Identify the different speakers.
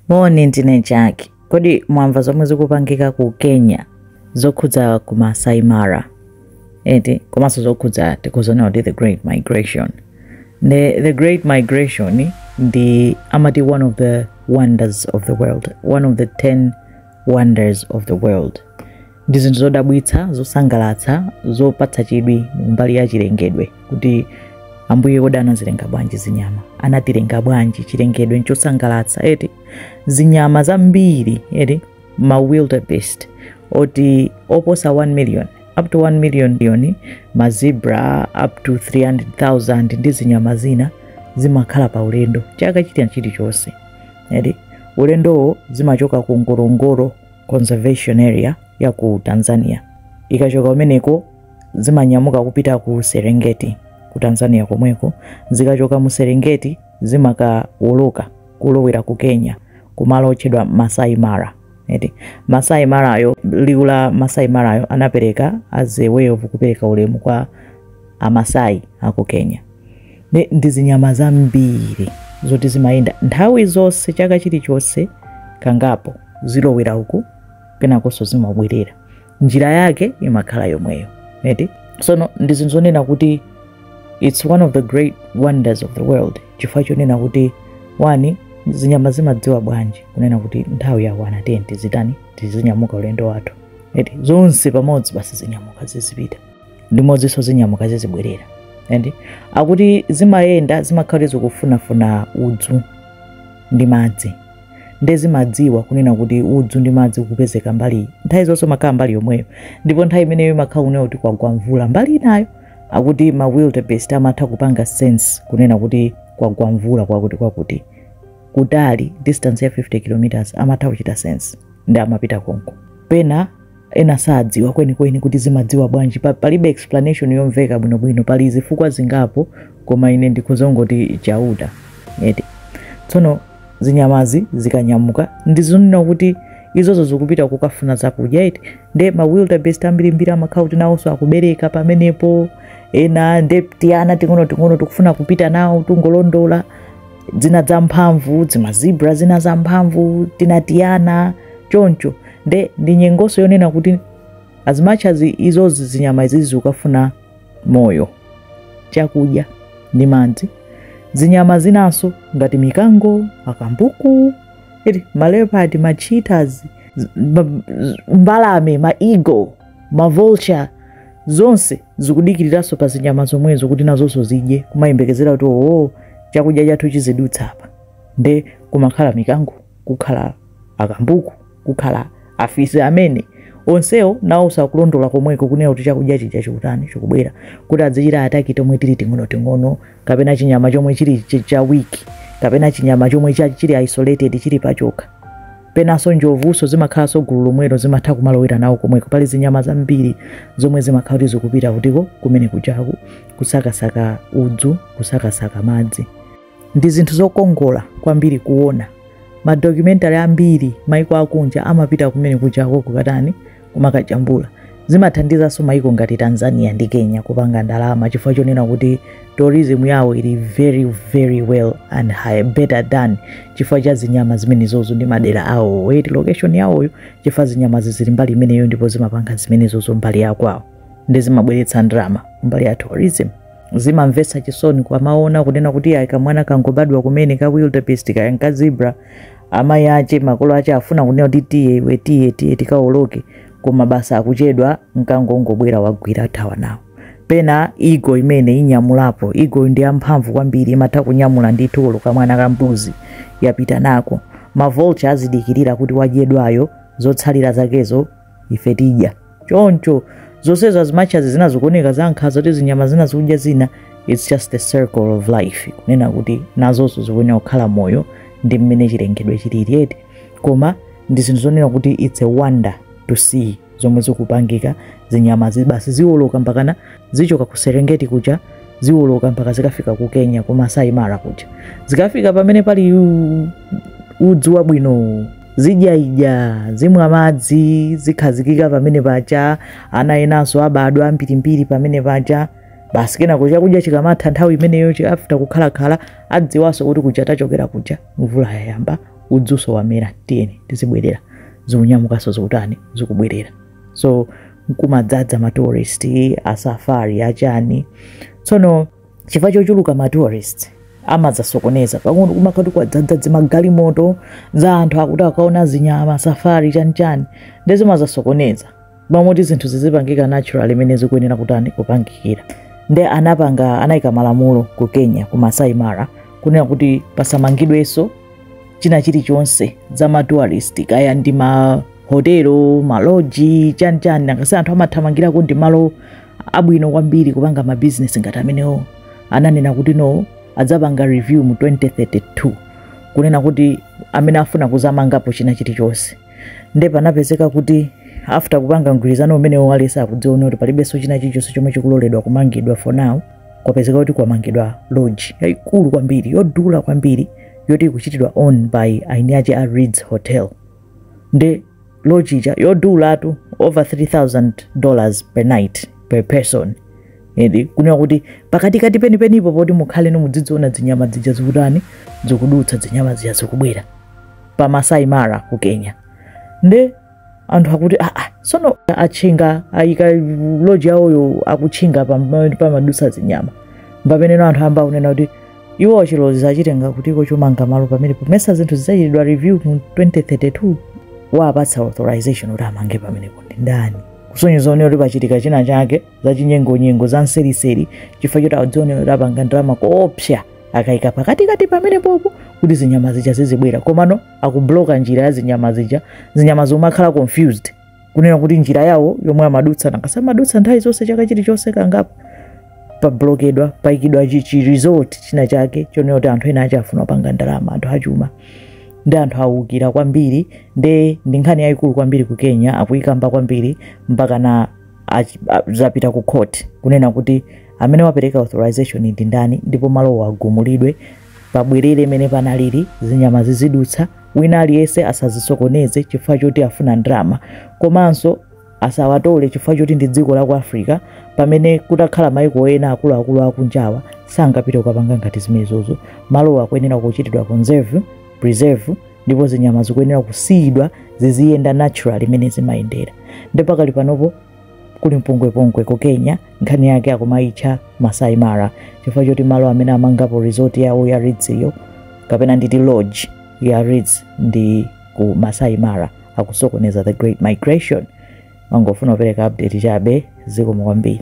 Speaker 1: Moni ndine Jack. Kodi mwamva zomwe zikupangika ku Kenya zokhudza ku Masai Mara eti komanso zokhudza tikuzinena kuti the great migration the, the great migration ndi amati one of the wonders of the world one of the 10 wonders of the world ndi zinthu zodabwitsa zosangalatsa zopatsa chidwi mbali ya chilengedwe kuti ambuye kodi anazilenga bwanji zinyama anatilenga bwanji chilengedwe nchosangalatsa eti zinyama zambiri eti ma wildebeest oti oposa 1 million up to 1 million ma zebra up to 300000 ndi zinyama zina zimakhala pa ulendo chaka china chilichonse eti ulendowo zimachoka ku ngorongoro conservation area ya ku tanzania zikachoka kumeneko zimanyamuka kupita ku serengeti ku tanzania komweko zikachoka mu serengeti zimakawoloka kulowera ku kenya kumalo otchedwa masai mara eti masai marayo liwu la masai marayo anapereka as a way of kupereka ulemu kwa amasai aku kenya nde ndi zinyama zambiri zoti zimayenda nthawi zonse chaka chilichonse kangapo zilowera uku kenakonso zimabwerera njira yake imakhala yomweyo eti sono ndi zinthu zonena kuti its one of the great wonders of the world chifukwa chonena kuti wani zinyama zimadziwa bwanji kunena kuti nthawi yakwana tiyeni tizitani tizinyamuka ulendo wathu eti zonse pamodzi basi zinyamuke zizipita limodzinso zinyamuke zizibwerera and akuti zimayenda zimakhala zikufunafuna udzu ndi madzi nde zimadziwa kunena kuti udzu ndi madzi kupezeka mbali iyi nthawi zonse umakhala mbali yomweyo ndipo nthawi imeneyo imakhala kunena kuti kwagwa mvula mbali inayo akuti ma wildebeest amatha kupanga sense kunena kuti kwagwa mvula kwakuti kwakuti kutali distance ya 50 kilometers amatha kuchita sense nde amapita konko pena ena sadziwa kwenikweni kuti zimadziwa bwanji palibe explanation yomveka bwinobwino pali zifukwa zingapo koma ine ndikhozongoti chauta eti tsono zinyamazi zikanyamuka ndizonena kuti izozo zikupita kukafuna zakudya eti nde ma wildebeest ambirimbiri amakhala kuti nawonso akubereka pamenepo ena nde tiana ting'onoting'ono tikufuna kupita nawo tungolondola zina za mphamvu zimazebra zina za mphamvu tina tiana choncho nde ndi nyengonso yonena kuti as much as izozi zinyama izizi zikukafuna moyo chakudya ndi madzi zinyama zinanso ngati mikango akambuku iti maleopard ma cheetahs mbalame ma eagle mavulture zonse zikudikiriranso pa zinyama zomwezo kuti nazonso zidye kumayembekezera kuti oo chakudya chathu chizidutsa apa nde kumakhala mikango kukhala akambuku kukhala afisi amene onsewo nawo sakulondola komweko kunena kuti chakudya chija chikutani chikubwera kuti adzichita attack tomwe tili ting'onoting'ono kapena chinyama chomwe chili ch- cha weak kapena chinyama chomwe cha- chili isolated chili pachokha Penanso njovunso zimakhalanso gulu lomwelo zimatha kumalowera nawo komweko. Pali zinyama zambiri zomwe zimakhala kuti zikupita kutiko, kumene kujaku kusakasaka udzu, kusakasaka madzi. Ndi zinthu zokongola kwambiri kuona. Ma documentary ambiri maiko akunja amapita kumene kujako kukatani kumakajambula zimathandizanso maiko ngati tanzania ndi kenya kupanga ndalama chifukwa chonena kuti tourism yawo ili very very well and high, better than chifukwa cha zinyama zimenezozo ndi madera awo eti location yawoyo chifukwa zinyamazi zili mbali imeneyo ndipo zimapanga zimenezozo mbali yakwawo ndi zimabweretsa ndalama mbali ya tourism zimamvetsa chisoni kumaona kunena kuti ayi kamwana kangobadwa kumene ka wildebeest kaya nkazibra amayi ache makolo ache afuna kunena kuti tiye iwe tiye tiye tikaoloke koma basi akuchedwa mkango wangobwera wagwira wathawa nawo pena eagle imene inyamulapo eagle ndi yamphamvu kwambiri imatha kunyamula ndithu olo kamwana ka mbuzi yapita nako mavulture azidikirira kuti wadyedwayo zotsalira zakezo ife tidya choncho zonsezo as much as zina zikuoneka za nkhaza kuti zinyama zina zikudya zina its just the circle of life kunena kuti nazonso zikuyenera kukhala moyo ndi mmene chilengedwe chilili eti koma ndi zinthu zonena kuti its a wonder to see zomwe zikupangika zinyamazi basi ziwoloka mpakana zichoka ku serengeti kuja ziwoloka mpaka zikafika ku kenya ku masai mara kuja zikafika pamene pali u- udzu wabwinowu zidya idya zimwa madzi zikhazikika pamene paja ana enanso abadwa ambirimbiri pamene paja basi kenako chakudya chikamatha nthawi imeneyo chi- after kukhalakhala adziwanso kuti kuja tachokera kuja mvula yayamba udzunso wamera tiyeni tizibwerera zikunyamukanso zikutani zikubwerera so nkumadzadza matourist asafari achani tsono chifukwa chochuluka ma tourist amazasokoneza pang'ono kumakhala kwadzadza zimagalimoto za anthu akuti akaone zinyama safari chanichani nde zimazasokoneza pamoti zinthu zizipangika naturally mmene zikuyenera kutani kupangikira nde anapanga anayika malamulo ku kenya ku masai mara kunena kuti pasamangidwenso china chilichonse za matourist kaya ndi mahotelo maloji chanichani nangasi anthu amathamangirako ndi malo abwino kwambiri kupanga mabizinesi ngati amenewo ananena kuti no adzapanga review mu 2032 kunena kuti amene afuna kuzamangapo china chilichonse nde panapezeka kuti after kupanga mgwirizano umenewo aliyense akudziona kuti palibenso china chilichonse chomwe chikuloledwa kumangidwa for now kwapezeka kuti kwamangidwa lodge yayikulu kwambiri yodula kwambiri yoti ikuchitidwa own by eni ache a Ritz Hotel nde lodge ija yodulatu over 3000 dollars per night per person edi kunena kuti pakatikati penipenipo poti mukhale mudzidziona zinyama zija zikutani zikudutsa zinyama zija zikubwera pa masai mara ku kenya nde anthu akuti aa sono atchinga ayika lodge yawoyo akutchinga pomadutsa zinyama pamenepo anthu ayamba kunena kuti iwo chilolezo achitenga kutiko chomanga malo pamenepo mesa zinthu zidzachitidwa review mu 2032 wawapatsa authorization kuti amange pamenepo ndi ndani kusonyeza onera kuti pachitika china chake za chinyengonyengo za mseriseri chifukwa choti akudzionera kuti apanga ndalama koopsa akayika pakatikati pamenepopo kuti zinyama zija zizibwera komano akubloka njira ya zinyama zija zinyama zomakhala confused kunena kuti njira yawo yomwe amadutsa nanga si amadutsa nthawi zonse chaka chilichonse kangapo pablokedwa paikidwa chi- chi resort china chake chonena kuti anthu ena akufuna kupanga ndalama anthu achuma nde anthu awukira kwambiri nde ndi nkhani yayikulu kwambiri ku kenya akuyikamba kwambiri mpaka na achi- a- zapita ku court kunena kuti amene wapereka authorization ndi ndani ndipo malowo agumulidwe Pabwerere mmene panalili zinyama zizidutsa, wina aliyense asazisokoneze chifukwa choti afuna ndalama. Komanso asawatole chifukwa choti ndi dziko la ku Africa pamene kutakhala maiko ena akuluakulu akunjawa sangapite kukapanga ngati zimenezozo. Malowo akuyenera kuchitidwa conserve, preserve ndipo zinyama zikuyenera kusiyidwa ziziyenda naturally mmene zimayendera. Nde pakali panopo kuli mpungwepungwe ku kenya nkhani yake akumaitcha masai mara chifukwa choti malo amene amangapo resort yawo ya Ritz-yo kapena nditi lodge ya Ritz ndi ku masai mara akusokoneza the great migration ndimangofuna kupereka update chabe zikomo kwambiri